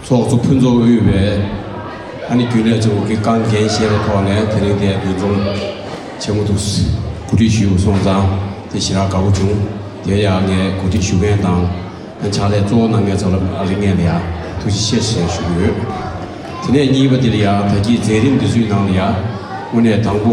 ཚོགས་གཙོ་ཕུན་ཚོགས་དབུས་པས་ཨ་ནི་རྒྱུན་ལས་གཙོ་བོ་གི་རྐང་འགན་བཞེས་པའི་ཐོག་ནས་དེ་རིང་འདི་འདུ་འཛོམས་བྱེད་མུ་ཐུག་གོ་སྒྲིག་ཞུས་སོང་ཙང་དེ་ཞེ་དྲག་དགའ་བོ་བྱུང་དེ་ཡང་ངས་གོ་སྒྲིག་ཞུ་མཁན་དང་ཕྱག་ལས་གཙོ་བོ་གནང་མཁན་ཚོ་ལ་རིགས་ངེས་ལ་ཡང་ཐུགས་རྗེ་ཆེ་ཞེས་ཞུ་གི་ཡོད། དེ་ནས་གཉིས་པ་འདི་ལ་ཡང་ད་ཀྱི་མཛད་རིམ་འདི་ཚོའི་ནང་ལ་ཡང་དངོས་གནས་དང་པོ།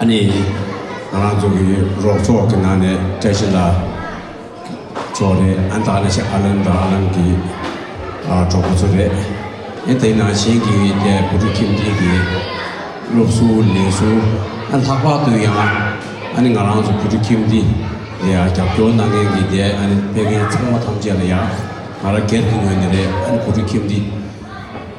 ཨ་ནེ་ཡིས་ང་རང་ཚོ་གི་རོགས་ཚོགས་ཀྱི་ནང་ནས་བཀྲ་ཤིས་ལགས་ཚོ་རེད། ཨ་ཐག་ལེ་ཤ་ཨ་ལམ་དང་ཨ་ལམ་གྱི་གྲོགས་པོ་ཚོ་རེད། ཡིན་དེ་ནང་བཞིན་གྱི་དེ་བུ་ཕྲུག་ཁྱིམ་སྡེ་གྱི་སློབ་གསོ་ལས་གསོ་ཨ་ལྷག་པར་དུ་ཡང་ཨ་ནེ་ང་རང་ཚོ་བུ་ཕྲུག་ཁྱིམ་སྡེ་ལ་རྒྱབ་སྐྱོར་གནང་མཁན་གྱི་དེ་ཨ་ནེ་སྤེལ་མཁན་ཚང་མ་ཐམས་ཅད་ལ་ཡང་ང་རང་སྒེར་གྱི་ངོས་ནས་རེད་ཨ་ནེ་བུ་ཕྲུག་ཁྱིམ་སྡེ།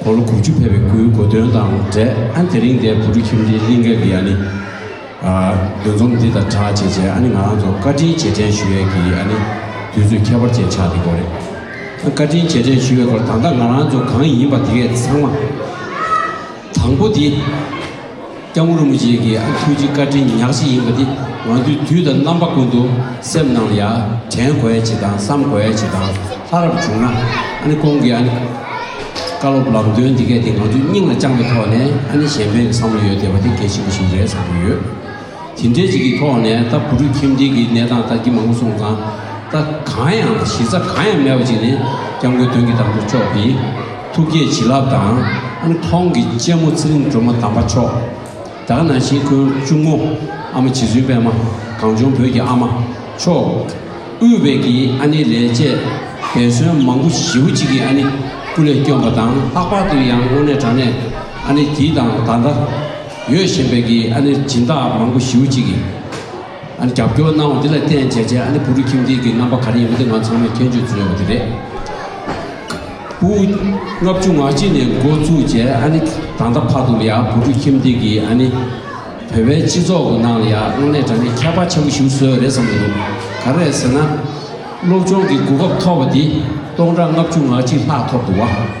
འཁོར་ལོ་དགུ་བཅུ་ཕེབས་པའི་སྐུའི་གོ་སྟོན་དང་འབྲེལ་དེ་རིང་འདས་བུ་ཕྲུག་ཁྱིམ་སྡེའི་གླིང་གེ་འདི་ཡ་ནི། འདུ་འཛོམས་འདི་དང་གྲགས་ཆེ་ཆེ་ཨ་ནི་ང་རང་ཚོ་བཀའ་དྲིན་རྗེས་དྲན་ཞུ་ཡས་ཀྱི་ཨ་ནི་དུས་ཚོད་ཁྱད་པར་ཅན་ཆགས་འདི་སྐོར་རེད། བཀའ་དྲིན་རྗེས་དྲན་ཞུ་ཡས་སྐོར་ད་ལྟ་ང་རང་ཚོ་གང་ཡིན་པ་དེ་གས་ཚང་མ། དང་པོ་དེ། སྐྱབས་མགོན་རིན་པོ་ཆེ་གི་ཨ་ཁུ་ཐུགས་རྗེ་བཀའ་དྲིན་ཉག་གཅིག་ཡིན་པ་འདི་ང་ཚོའི་དུས་དང་རྣམ་པ་ཀུན་ཏུ་སེམས་ནང་ལ་ཡ་དྲན་དགོས་ཡ་བྱེད་དང་བསམ་དགོས་ཡ་བྱེད་དང་ལྷ་རབ་བྱུང་ན་ཨ་ནི་ཁོང་གི་ཨ་ནི་བཀའ་སློབ་ལམ་སྟོན་འདི་སྐད་དེ་ང་ཚོའི་སྙིང་ལ་བཅངས་པའི་ཐོག་ནས་ཨ་ནི་གཞན་ཕན་གྱི་བསམ་བློ་ཡོད་བསྡད་པ་དེ་གལ་ཆེན་པོ་ཞིག་རེད་བསམ་གྱི་ཡོད། དེ་འདྲའི་ཅིག་གི་ཐོག་ནས་ད་བུ་ཕྲུག་ཁྱིམ་སྡེ་གི་གནས་སྟངས་ལྟ་ཀྱི་མང་གསུང་དང་ད་གང་ཡང་གཞི་རྩ་གང་ཡང་མེད་པ་ཅིག་ནི་སྐྱབས་མགོན་དོན་གྱི་དམ་དུ་ཕྱོགས་ཏེ། ཐུགས་བསྐྱེད་བྱིན་རླབས་དང་དབུ་མཐོང་གི་སྤྱན་མོ་ཚེ་རིང་སྒྲོལ་མ་དམ་པ་མཆོག། དག་སྣང་ཞིང་ཀུན་གཅུང་མོ། ཨ་མ་བྱི་ཟུན་པད་མ། གངས་ལྗོངས་བོད་ཀྱི་ཨ་མ། མཆོག། དབུས་བལ་གྱི་ཨ་ནེ་ལས་བཅས། འབད་བརྩོན་མང་པོ་ཞི་བུ་གཅིག་གི་ཨ་ནེ། སྐུ་ལས་བསྐྱོན་པ་དང་ལྷག་པར་དུ་ཡང་དངོས་གནས་དྲང་གནས་ཨ་ནེ་དེའི་དང་ད་ལྟ། ཡོད་བཞིན་བལ་གྱི་ཨ་ནེར་སྦྱིན་བདག་མང་པོ་ཞི་བུ་གཅིག་གི། ཨ་ནི་རྒྱབ་སྐྱོར་གནང་བ་འདི་ལ་བརྟེན་བྱས་རྗེས་ཨ་ནི་བུ་རུ་ཁྱིམ་སྡེ་གི་རྣམ་པ་ག་རེ་ཡིན་པ་འདི་ང་ཚང་མས་མཁྱེན་དཔྱོད་བྱེད་དགོས་ཀྱི་རེད། པུའུ་ལྔ་བཅུ་ང་གཅིག་ནས་འགོ་བཙུགས་རྗེས་ཨ་ནི་ད་ལྟ་བར་དུ་ལ་ཡང་བུ་རུ་ཁྱིམ་སྡེ་གིས་ཨ་ནི་བོད་པའི་སྤྱི་ཚོགས་ཀྱི་ནང་ལ་ཡང་དངོས་གནས་དྲ་གནས་ཁྱད་པར་ཆེན་པོ་ཞུགས་སྲོལ་རེད་བསམ་གྱི་འདུག་ག་རེད་ཟེར་ན། སློབ་སྦྱོང་གི་གོ་སྐབས་ཐོབ་པ་འདི་སྟོང་ཕྲག་ལྔ་བཅུ་ང་གཅིག་ལྷག་ཐོབ་འདུག་བ།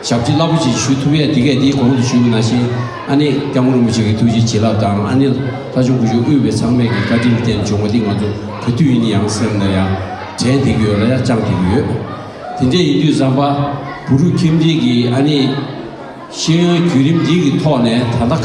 ཞབས་ཀྱི་རླབས་པོ་ཆེ་ཞུ་ཐུབ་ཡས་དེ་གས་དེའི་གོང་དུ་ཞུ་ན་བཞིན་ཨ་ནེ་སྐྱབས་མགོན་རིན་པོ་ཆེ་གི་ཐུགས་རྗེ་བྱིན་རླབས་དང་ཨ་ནེ་ལྷ་བྱུང་སྐུ་གཞོན་དབུས་པའི་ཚང་མས་ཀྱི་བཀའ་དྲིན་རྟེན་འབྱུང་བ་འདི་ང་ཚོ་ག་དུས་ཡིན་ཡང་སེམས་ན་ཡང་དྲན་དེ་གི་ཡོད་ལ་ཡང་བཅང་དེ་གི་ཡོད། དེ་འདྲས་ཡིན་དུས་བཟང་པ་བུ་རུ་ཁྱིམ་འདི་གི་ཨ་ནེ་ཤེས་ཡོན་བརྒྱུད་རིམ་འདི་གི་ཐོག་ནས་ད་ལྟ།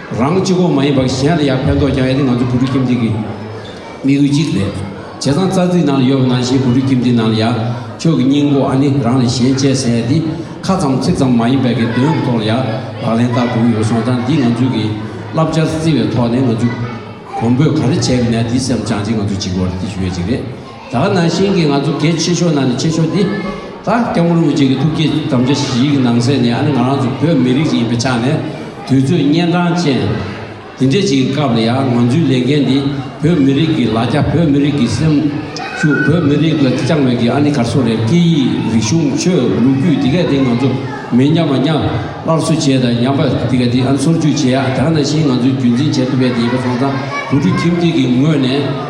རང་སྤྱི་ཁོག་མ་ཡིན་པར་གཞན་ལ་ཡང་ཕན་ཐོགས་ཀྱང་ཡོད་དེ་ང་ཚོ་བུ་ཕྲུག་ཁྱིམ་སྡེ་གི་དམིགས་ཡུལ་གཅིག་རེད། བྱས་ཙང་རྩ་ཚིག་ནང་ལ་ཡོད་པ་ནང་བཞིན་བུ་ཕྲུག་ཁྱིམ་སྡེའི་ནང་ལ་ཡང་ཁྱོད་ཀྱི་སྙིང་པོ་ཨ་ནི་རང་ལས་གཞན་གཅེས་ཟེར་ཡ་འདི་ཁ་ཙམ་ཚིག་ཙམ་མ་ཡིན་པས་དགེ་འདུན་གྱི་ཐོག་ལ་ཡང་ལག་ལེན་བསྟར་དགོས་ཀྱི་ཡོད་སོང་ཙང་འདི་ང་ཚོའི་གི་བསླབ་བྱར་བརྩི་བའི་ཐོག་ནས་ང་ཚོའི་གོང་བུས་ག་རེ་བྱས་པ་ནས་འདི་སེམས་བཅངས་ཅིག་ང་ཚོ་འཇིག་པར་བརྟི་ཞུ་ཡོད་ཅིག་རེད། ད་ནང་བཞིན་གྱི་ང་ཚོ་གལ་ཆེ་ཤོས་ནང་ནས་ཆེ་ཤོས་དེ། ད་སྐྱབས་མགོན་རིན་པོ་ཆེ་གི་ཐུགས་བསྐྱེད་དམ་བཅའ་བཞིའི་གི་ནང་ཚན་ནས་ཨ་ནི་ང་རང་ཚོ་བོད་མི་རིགས་ཤིག་ཡིན་པའི་ཆ་ནས་དུས་ཚོད་གཉན་འཕྲང་ཅན། དེ་འདྲའི་ཞིག་གི་སྐབས་ལ་ཡང་ང་ཚོའི་ལས་འགན་འདི་བོད་མི་རིགས་ཀྱི་ལ་རྒྱ་བོད་མི་རིགས་ཀྱི་སེམས་ཤུགས་བོད་མི་རིགས་ལ་བཅངས་བའི་གི་ཨ་ནི་གར་སོ་རས་སྐད་ཡིག་རིག་གཞུང་ཆོས་ལུགས་རྒྱུད་དེ་གའི་དེ་ང་ཚོ་མི་ཉམས་པ་ཉམས་སླར་གསོ་བྱས་དང་ཉམས་པ་དེ་གའི་དེ་ཨ་ནི་སོར་ཆུད་བྱེད་ཡག་ད་ནང་བཞིན་ང་ཚོའི་རྒྱུན་འཛིན་བྱེད་ཐུབ་པའི་དེ་ཡིན་པ་སོང་ཙང་བུ་ཕྲུག་ཁྱིམ་སྡེ་གི་ངོས་ནས།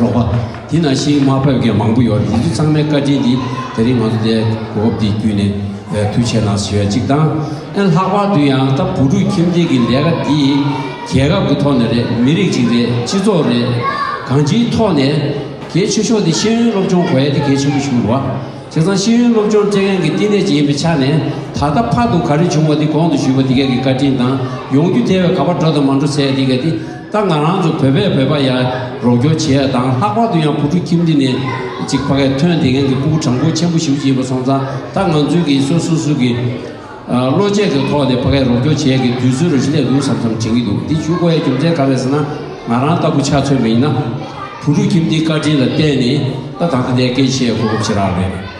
རོགས་པ། དེ་ན་ཤིང་དམར་ཕབ་མཁན་མང་པོ་ཡོད་རེད་དེ་ཚོ་ཚང་མའི་བཀའ་དྲིན་དེ་དེ་རིང་ང་ཚོ་དེ་གོ་སྐབས་འདི་བརྒྱུད་ནས་ཐུགས་ཆེ་གནང་ཞེས་པའི་གཅིག་དང། ཨེ་ལྷག་པར་དུ་ཡང་ད་བུ་ཕྲུག་ཁྱིམ་སྡེ་གི་ལས་ཀ་འདི་རྒྱལ་ཁབ་ཀྱི་ཐོག་ནས་རེད་མི་རིགས་ཅིག་རེད་སྤྱི་ཚོགས་རེད། གང་ཅིའི་ཐོག་ནས་གལ་ཆེ་ཤོས་དེ་ཤེས་ཡོན་སློབ་སྦྱོང་གོ་ཡ་དེ་གལ་ཆེན་པོ་ཞིག་རེད། དེ་ཚང་ཤེས་ཡོན་སློབ་སྦྱོང་སྤྲད་མཁན་གྱི་བསྟི་གནས་ཅིག་ཡིན་པའི་ཆ་ནས་ད་ལྟ་ཕར་དུ་ག་རེ་བྱུང་བ་དེ་གོང་དུ་ཞུས་པ་དེ་ག་གི་བཀའ་དྲིན་དང་ཡོང་རྒྱུ་དེ་བས་ག་པར་འགྲོ་དང་མ་འགྲོ་ཚད་དེ་ག་དེ་ད་ང་རང་ཚོ་བོད་པས་བོད་པ་ཡར་རོགས་སྐྱོར་བྱེད་ཡ་དང་ལྷག་པར་དུ་ཡང་བུ་ཕྲུག་ཁྱིམ་འདི་ནས་ཅིག་ཕ་གས་ཐོན་དེ་ངན་གི་སྤུ་གུ་དྲང་པོ་ཆེན་པོ་ཞིག་བྱེད་པ་སོང་ཙང་ད་ང་ཚོས་གིས་སོ་སོ་སུ་གིས་བློ་ཆས་གི་ཐོག་ནས་ཕ་གས་རོགས་སྐྱོར་བྱེད་ཡ་གི་དུས་ཚོད་རོ་ཤི་ལས་འདུག་བསམ་བསམ་དྲན་གི་འདུག་འདི་བྱུས་ཀོ་ཡའི་རྒྱུ་མཚན་ག་རེད་ཟེར་ན་ང་རང་ལྟ་བུ་ཆ་མཚོན་མི་ཡིན་ན་བུ་ཕྲུག་ཁྱིམ་འདིའི་བཀའ་དྲིན་ལ་བརྟེན་ནས་ད་ད་ལྟ་འདའི་སྐད་ཆའི་གོ་སྐབས་ཆེ་རག་རེད།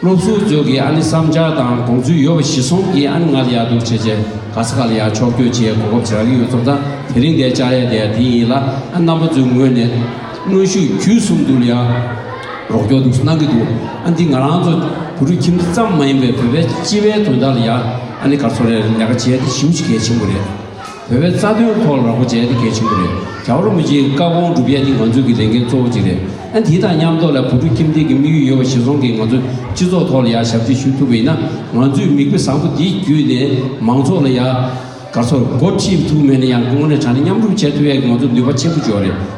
སློབ་གསོ་རྫོགས་ཀྱི་ཨ་ནི་བསམ་འཆར་དང་དགོངས་ཚུལ་ཡོད་པ་བཞི་གསུམ་གྱིས་ཨ་ནི་ང་ལ་ཡག་སྡུག་བྱེད་ཆེད་ག་ས་ག་ལ་ཡག་ཕྱོགས་བསྐྱོད་བྱེད་གོ་སྐབས་ཟེར་ག་གི་ཡོད་ཚོ་ད་དེ་རིང་འདའི་བཅར་ཡས་དེ་དེ་ཡིན་ལ་ཨ་ནི་རྣམ་པ་ཚོའི་ངོས་ནས་གནོན་ཤུགས་བརྒྱུད་གསུམ་དུ་ལ་ཡག་རོགས་སྐྱོར་འདུག་གནང་གི་འདུག་ཨ་འདི་ང་རང་ཚོ་བུ་རུ་ཁྱིམ་ཙམ་མ་ཡིན་པའི་བོད་པའི་སྤྱི་བའི་དོན་དག་ལ་ཡག་ཨ་ནི་ག་ཚོ་རེར་ལས་ཀ་བྱས་ཏེ་ཞིབ་གཞི་གལ་ཆེན་པོ་རེད། བོད་པའི་རྩ་དོན་ཐོག་ལ་ར་སྐོར་བྱས་ན་དེ་གལ་ཆེན་པོ་རེད། རྒྱ་བོད་རིན་པོ་ཆེའི་བཀའ་དགོངས་སྒྲུབ་ཡ་དེ་ང་ཚོའི་གི་ལས་འགན་གཙོ་བོ་གཅིག་རེད། ཨ་དེ་དང་མཉམ་ཐོག་ལ་བོད་ཕྲུག་ཁྱིམ་སྡེ་གི་དམིགས་ཡུལ་ཡོད་པ་ཞིག་བཟུང་གིས་ང་ཚོའི་སྤྱི་ཚོགས་ཐོག་ལ་ཡ་ཞབས་ཕྱི་ཞུ་ཐུབ་པ་ཡིན་ན་ང་ཚོས་མིག་དཔེ་བཟང་པོ་དེ་བརྒྱུད་ནས་མང་ཚོགས་ལ་ཡ། ག་ཚོར་སྒོ་ཁྲིད་ཐུབ་མེད་ན་ཡང་གོང་ནས་དྲ་སྣེ་མཉམ་རུབ་བྱས་ཐུབ་ཡ་ང་ཚོ་ནུས་པ་ཆེན་པོ་འཇོག་རེད།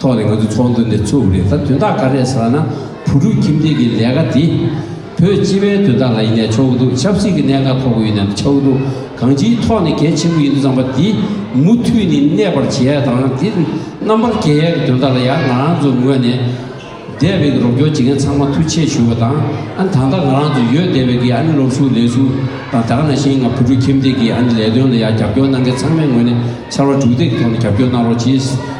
ཐོག་ནས་ང་ཚོའི་ཚོགས་འདུ་འདི་ཚུགས་པ་རེད་ད་དོན་དག་ག་རེད་ཟེར་བ་ན་བུ་ཕྲུག་ཁྱིམ་སྡེ་གི་ལས་ཀ་དེ་བོད་སྤྱི་བའི་དོན་དག་ལ་ཡིན་ནས་ཆོག་གི་འདུག་ཆབ་སྲིད་ཀྱི་གནད་འགག་ཐོག་གི་ཡིན་ནས་ཆོག་གི་འདུག་གང་ཅིའི་ཐོག་ནས་གལ་ཆེན་པོ་ཡིན་འདུག་ཙམ་པ་དེ་མུ་མཐུད་ནས་གནས་པར་བྱེད་ཡ་དང་དེ་རྣམ་པར་རྒྱལ་ཡ་གི་དོན་དག་ལ་ཡང་ང་རང་ཚོའི་ངོས་ནས་སྡེ་བའི་གི་རོགས་སྐྱོར་བྱེད་མཁན་ཚང་མ་ཐུགས་ཆེ་ཞུ་བ་དང་ཨ་ནི་ད་ལྟ་ང་རང་ཚོ་ཡོད་སྡེ་བའི་གི་ཨ་ནི་སློབ་ཞུགས་ལས་ཞུགས་དང་དག་ན་ཤིང་ང་བུ་ཕྲུག་ཁྱིམ་སྡེ་གི་ཨ་ནི་ལས་དོན་ལ་ཡང་རྒྱབ་སྐྱོར་གནང་མཁན་ཚང་མའི་ངོས་ནས་ཕྱར་བ་དྲུག་སྡེ་གི་ཐོག་ནས་རྒྱབ་སྐྱོར་གནང་རོགས་གྱིས།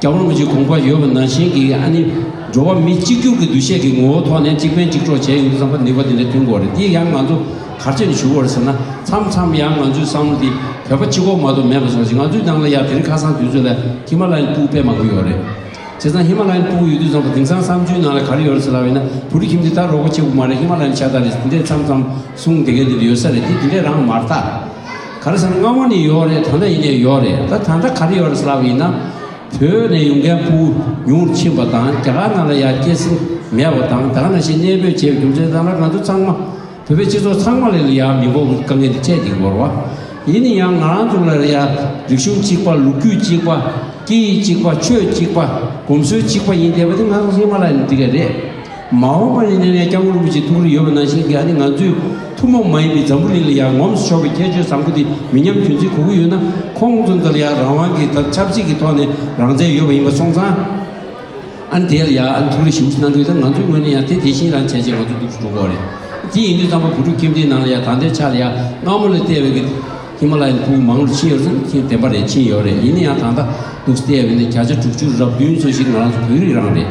རྒྱ་བོད་མི་རིགས་གོང་འཕར་ཡོད་པ་ནང་བཞིན་གྱི་ཨ་ནི་འགྲོ་བ་མི་གཅིག་གྱུར་གྱི་འདུ་ཤེས་ཀྱི་ངོ་བོ་ཐོག་ནས་གཅིག་ཕན་གཅིག་གྲོགས་བྱས་ཡོང་བསམ་པ་ནུས་པ་དེ་འདྲ་ཐོན་དགོས་རེད་དེ་ཡང་ང་ཚོ་གར་ཆེར་ཞུགས་བར་ཟེར་ན་མཚམས་མཚམས་ཡང་ང་ཚོའི་བསམ་བློ་དེ་བོད་པ་སྤྱི་ཁོག་མ་གཏོགས་མེད་པ་བཟང་ཞིང་ང་ཚོའི་ནང་ལ་ཡང་དེ་རིང་ཁ་སང་དུས་ཚོད་ལ་ཧི་མ་ལ་ཡའི་སྤུག་དཔེ་མང་པོ་ཡོད་རེད། བྱས་ཙང་ཧི་མ་ལ་ཡའི་སྤུག་ཡོད་དུས་བཟང་པོ་དེང་སང་བསམ་ཚུལ་ནང་ལ་ག་རེ་ཡོད་རེད་ཟེར་ལབ་ཡོང་ན་བུ་རི་ཁྱིམ་དེ་ད་རོགས་པ་ཆེ་པོ་མ་རེད་ཧི་མ་ལ་ཡའི་ཆ་ད་རེད་དེ་འདྲས་མཚམས་མཚམས་གསུང་དེ་གའི་དེ་འདྲ་ཡོད་ས་རེད་དེ་དེ་འདྲས་རང་མ་རྟགས། གར་སར་སྔ་མོ་ནས་ཡོད་རེད་ད་ལྟ་ཡིན་ནས་ཡོད་རེད་ད་ད་ལྟ་གར་ཡོད་རེད་ཟེར་ལབ་ཡིན་ན། བོད་ནས་ཡོང་མཁན་སྤུན་ཉུང་རུ་ཕྱིན་པ་དང་རྒྱ་གར་ནང་ལ་ཡར་སྐྱེད་སྲིང་མེད་པ་དང་ད་ག་ན་ཞིག་གནས་སྤོས་བྱས་པའི་རྒྱུ་མཚན་ཙམ་ལ་ང་ཚོ་ཚང་མ་བོད་པའི་སྤྱི་ཚོགས་ཚང་མ་ལ་ཡར་མི་འགོག་དཀའ་ངལ་འདི་འཕྲད་ཀྱི་འགོར་བ་ཡིན་ནི་ཡང་ང་རང་ཚོ་ལ་ཡར་རིག་གཞུང་གཅིག་པ་ལུགས་རྒྱུད་གཅིག་པ་སྐད་ཡིག་གཅིག་པ་ཆོས་གཅིག་པ་གོམས་སྲོལ་གཅིག་པ་ཡིན་བསྡད་པ་དེ་ང་ཚོ་ཧི་མ་ལ་ཡི་ནས་འདི་ག་རེད། མ་འོངས་པར་ཡིན་ན་ནས་སྐྱག་མོ་རིན་པོ་ཆེའི་ཐུགས་རེ་ཡོད་པ་ནང་བཞིན་འདི་ཧ་ནི་ང་ཚོའི་ཐུན་མོང་མ་ཡིན་པའི་འཛམ་བུ་གླིང་ལ་ཡར་ངོམས་སུ་ཕྱོགས་པའི་ཁྱད་ཆོས་བཟང་པོ་དེ་མི་ཉམས་དོན་ཚིག་གོ་གི་ཡོད་ན་ཁོང་ཚོ་འདིར་ཡར་རང་དབང་གིས་དང་ཆབ་སྲིད་ཀྱི་ཐོག་ནས་རང་བཙན་ཡོད་པ་ཡིན་པ་སོང་ཙང་ཨ་ནི་དེ་ལ་ཡར་ཨ་ནི་ཐུགས་རེ་ཞིབ་མོ་གནང་གི་ཡོད་ད་ང་ཚོའི་ངོས་ནས་ཡང་དེ་དེ་བཞིན་རང་བྱས་རྗེས་ང་ཚོ་སྡུག་ཏུ་འགྲོ་དགོས་རེད་དེ་ཡིན་དུས་ཙང་པ་བུ་ཕྲུག་ཁྱིམ་སྡེའི་ནང་ལ་ཡང་ད་ལྟའི་ཆ་ལ་ཡར་སྔ་མོ་ལས་ལྟས་འོས་ཀྱི་ཧི་མ་ལ་ཡའི་ཁུག་མང་རུ་ཕྱིན་ཡོད་ཙང་ཁྱིན་བདེན་པ་རེད་ཕྱིན་ཡོད་རེད་ཡིན་ན་ཡང་ད་ལྟ་སྡུག་ལྟས་འོས་ན་བརྒྱ་ཆ་དྲུག་ཅུ་རབ་བདུན་སོ་བཞི་ནི་ང་རང་ཚོ་བོད་རིགས་རང་རེད།